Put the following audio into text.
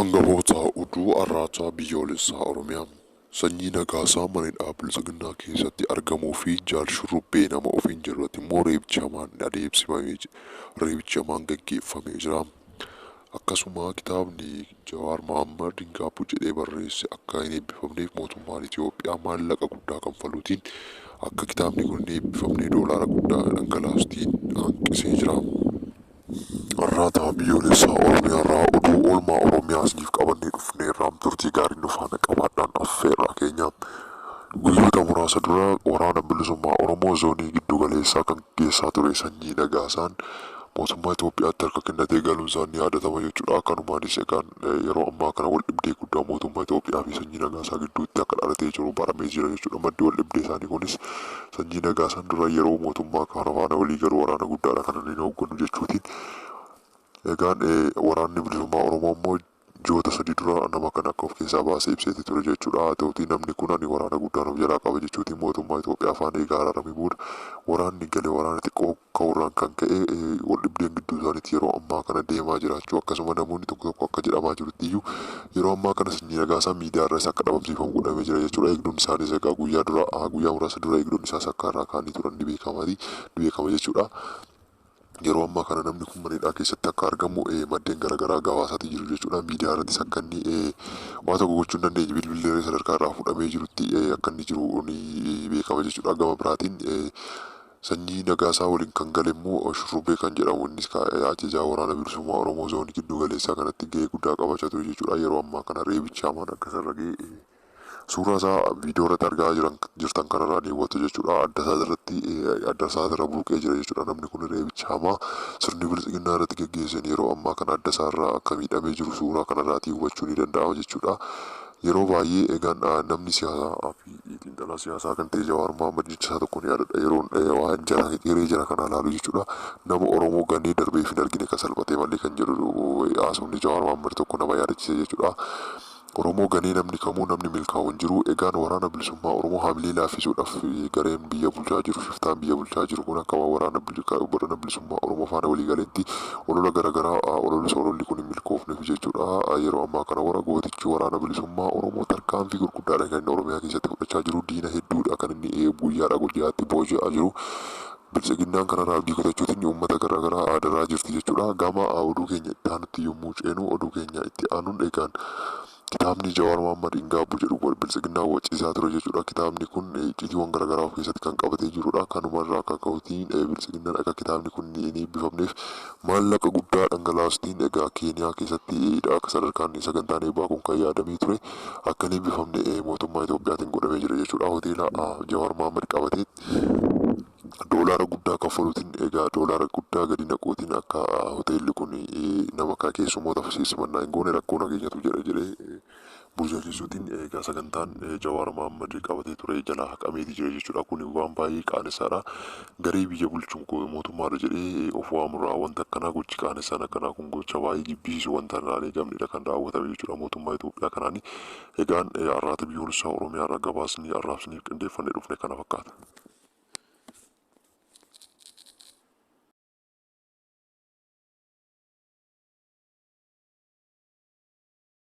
Angafoota Oduu Arraata Biyyoolessaa Oromiyaa Sanyii Nagaasaa mana hidhaa Biltsiginnaa keessatti argamuu fi Jaal Shurrubbee nama ofiin jedhu irratti immoo reebichi hamaan adeemsifamee ji- reebichi hamaan gaggeeffamee jira. Akkasuma kitaabni Jawaar Mohaammed hin gaabbu jedhee barreesse akka hin eebbifamneef mootummaan Itoophiyaa maallaqa guddaa kanfaluutiin akka kitaabni kun hin eebbifamne doolaara guddaa dhangalaastiin hanqisee jira. Arrata Biyyoolessaa Oromiyaarraa oduu oolmaa Oromiyaa isiniif qabannee dhufneerra turtii gaarii nu faana qabaadhaan affeerraa keenya. Guyyoota muraasa dura waraana bilisummaa Oromoo zoonii giddu galeessaa kan gaggeessaa ture sanyii Nagaasaan mootummaa Itoophiyaatti harka kennatee galuunsaa ni yaadatama jechuudha. Kanumaanis egaan Yeroo ammaa kana waldhibdee guddaa mootummaa Itoophiyaa fi Sanyii Nagaasaa gidduutti akka dhalatee jiru baramee jira jechuudha. Maddi waldhibdee isaanii kunis Sanyii Nagaasaan dura yeroo mootummaa kana faana walii galu waraana guddaadha kan inni hoogganu jechuutiin. Egaan waraanni bilisummaa Oromoo immoo ji'oota sadii dura nama kana akka of keessaa baasee ibseeti ture jechuudha. Haa ta'utii namni kun ani waraana guddaan of jalaa qaba jechuutiin mootummaa Itoophiyaa faana egaa araaramee booda waraanni gale waraana xiqqoo ka'uurraan kan ka'e waldhibdeen gidduu isaaniitti yeroo ammaa kana deemaa jiraachuu akkasuma namoonni tokko tokko akka jedhamaa jirutti iyyuu yeroo ammaa kana sanyii nagaasaa miidiyaa irraas akka dhabamsiifamu godhamee jira jechuudha eegdonni isaaniis egaa guyyaa dura guyyaa muraasa dura eegdonni isaas akka irraa kaanii turan ni beekamati ni beekama jechuudha. Yeroo ammaa kana namni kun mana hidhaa keessatti akka argamu maddeen garaagaraa gabaasaatii jiru jechuudha. Miidiyaa irrattis akka inni waa tokko gochuu hin dandeenye bilbillee sadarkaa irraa fudhamee jirutti akka inni jiru ni beekama jechuudha. Gama biraatiin Sanyii Nagaasaa waliin kan gale immoo Shurrubbee kan jedhamu innis ka ajajaa Waraana Bilisummaa Oromoo Zoonii Gidduu Galeessaa kanatti gahee guddaa qabachaa ture jechuudha. Yeroo ammaa kana reebichi hamaan akka isa irra gahe suuraa isaa viidiyoo irratti argaa jiran jirtan kanarraa ni hubattu jechuudha. Adda isaa irratti adda isaa irra burqee jira jechuudha. Namni kun reebicha hamaa sirni bilxiginnaa irratti geggeesseen yeroo ammaa kana adda isaa irraa akka miidhamee jiru suuraa kanarraatii hubachuu ni danda'ama jechuudha. Yeroo baay'ee egaan namni siyaasaa Iyyii xiinxalaa siyaasaa kan ta'e Jawaar Mohammad jecha isaa tokkoon yaadadha yeroon eh, waan jara hiree jara kanaa laalu jechuudha nama Oromoo ganee darbeef hin argine kan salphatee malee kan jedhu eh, haasofni Jawaar Mohammad tokko nama yaadachiisa jechuudha. Oromoo ganee namni kamuu namni milkaa'u hin jiru egaan waraana bilisummaa Oromoo hamilee laaffisuudhaaf eh, gareen biyya bulchaa jiru shiftaan biyya bulchaa jiru kun akka waan waraana bili- ka- waraana bilisummaa Oromoo faana walii galeetti olola garagaraa ah, ololus ololli kun hin milkoofneef jechuudha Ah, yeroo ammaa kana wara gootichi waraana bilisummaa Oromoo tarkaanfii gurguddaa guddaadha kan inni Oromiyaa keessatti fudhachaa jiru. Diina hedduudha kan inni eh, guyyaadhaa guyyaatti booji'aa jiru. Biltsiginnaan kanarraa abdii kutachuutiin uummata garaagaraa aadaraa jirti jechuudha. Gama ah, oduu keenya itti aanutti yommuu ceenu oduu keenya itti aanuun egaan kitaabni Jawaar Mohaammed hin gaabbu jedhu wal biltsiginnaa waciisaa ture jechuudha. Kitaabni kun eh, icciitiiwwan garaagaraa of keessatti kan qabatee jirudha. Kanumarraa akka ka'utiin eh, biltsiginnaan akka kitaabni kun hin eebbifamneef Maallaqa guddaa dhangalaastiin egaa Keeniyaa keessatti dha akka sadarkaan sagantaan eebbaa kun kan yaadamee ture akka hin eebbifamne mootummaa Itoophiyaatiin godhamee jira jechuudha. Hoteela Jawaar Mohaammed qabateetti doolaara guddaa kaffaluutiin egaa doolaara guddaa gadi naquutiin akka hoteelli kun nama keessummoota simannaa hin goone rakkoo nageenyatu jira jedhee burjajeessuutiin egaa sagantaan Jawaar Mohaammed qabatee ture jalaa haqameeti jira jechuudha. Kun waan baay'ee qaanessaadha. Garee biyya bulchu mootummaadha jedhee of waamurraa wanta akkanaa gochi qaanessaan akkanaa kun gocha baay'ee jibbisiisu wanta irraa hin eegamnedha kan raawwatame jechuudha mootummaa Itoophiyaa kanaani. Egaan arraata biyyoolessaa Oromiyaa irraa gabaasni arraabsiniif qindeeffannee dhufne kana fakkaata.